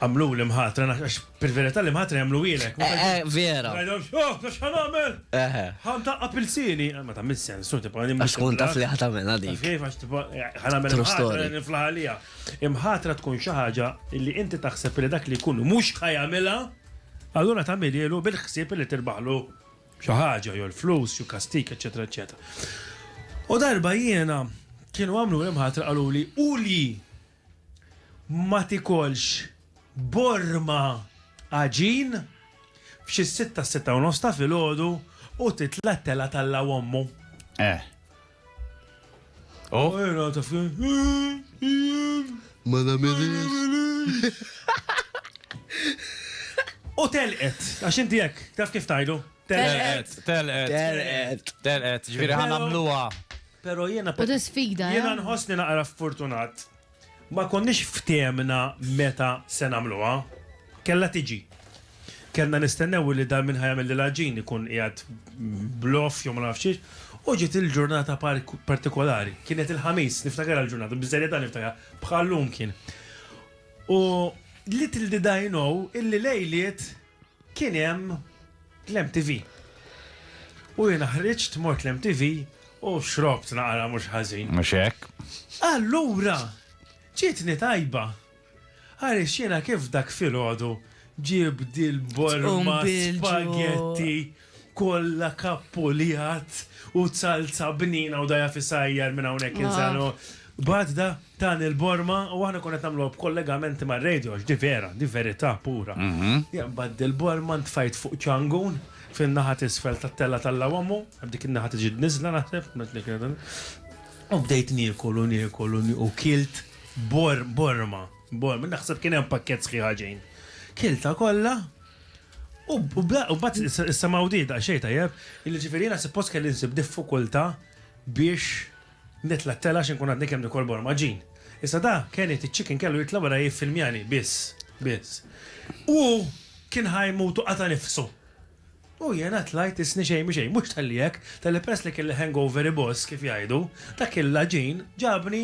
Għamluli mħatra, għax fil-verità li mħatra jagħmluhielek. Eh, eh, vera. Għajdhom, oh, nafx ħan għamel. Eh, ħan taqqa pilsini. Ah, ma tagħmel sens, su tibqa' nimmu. Għax kun taf li ħat għamel għadik. Kif għax tibqa' ħan għamel mħatra niflaħalija. Imħatra tkun xi ħaġa li inti taħseb li dak li jkun mhux ħajamilha, allura tagħmilielu bil-ħsieb li tirbaħlu xi ħaġa, jew l-flus, jew kastik, eċetera, eċetera. U darba jiena kienu għamlu l-imħatra qaluli u li ma tikolx borma għaġin f'xi sitta sitta u nofs ta' filgħodu u titla' telgħa talla' ommu. Eh. Oh. Ma nagħmilhiex. U telqet, għax inti hekk, taf kif tajdu? Telqet, telqet. Telqet. Telqet, ġifieri ħanamluha. Pero jiena U ta' sfida, jiena eh? nħossni naqra ffortunat. Ma konniex fthemna meta se nagħmluha. Kellha tiġi. Kellna nistennew li dal min ħa jagħmel l-għaġin ikun qiegħed b'loff jew ma nafx xiex. U ġiet il-ġurnata partikolari. Kienet il-Ħamis, niftakarha l-ġurnata, bis-serjetà niftakarha, bħal lum kien. U little did I know illi lejliet kien hemm l-MTV. U jiena ħriġt mort l-MTV u xrobt naqra mhux ħażin. Mhux hekk? Allura ġietni tajba għaliex jiena kif dak filgħodu ġieb dil-borma spaghetti. Kollha kappu li għadd u zalza bnina u dajha f'isajjar minn hawnhekk il sa no Bad da tan il-borma u aħna konna qed nagħmluha b'kollegamenti mar-radio għax di vera, di verità pura. Jien bad il-borma ntfajt fuq ċangun fin-naħa t'isfel tat-tella tal-Lawamu, dik in-naħa ta' ġid niżla naħseb, u bdejt niekol u niekol u u kilt bor borma, borma, naħseb kien hemm pakkett sħiħa ġejn. Kiltha kollha. U bat s-samaw di da xej tajjeb, illi ġifirina suppost kelli nsib diffikulta biex nitla t-tela xin kun għadni kem nikolbor maġin. Issa da, kien it ċikin kellu jitla wara jiffilmjani, biss, biss. U kien ħajmutu qata nifsu. U jena tlajt isni xej mi xej, mux tal-li jek, tal-li pres li kelli hangover boss kif jajdu, dak il-laġin ġabni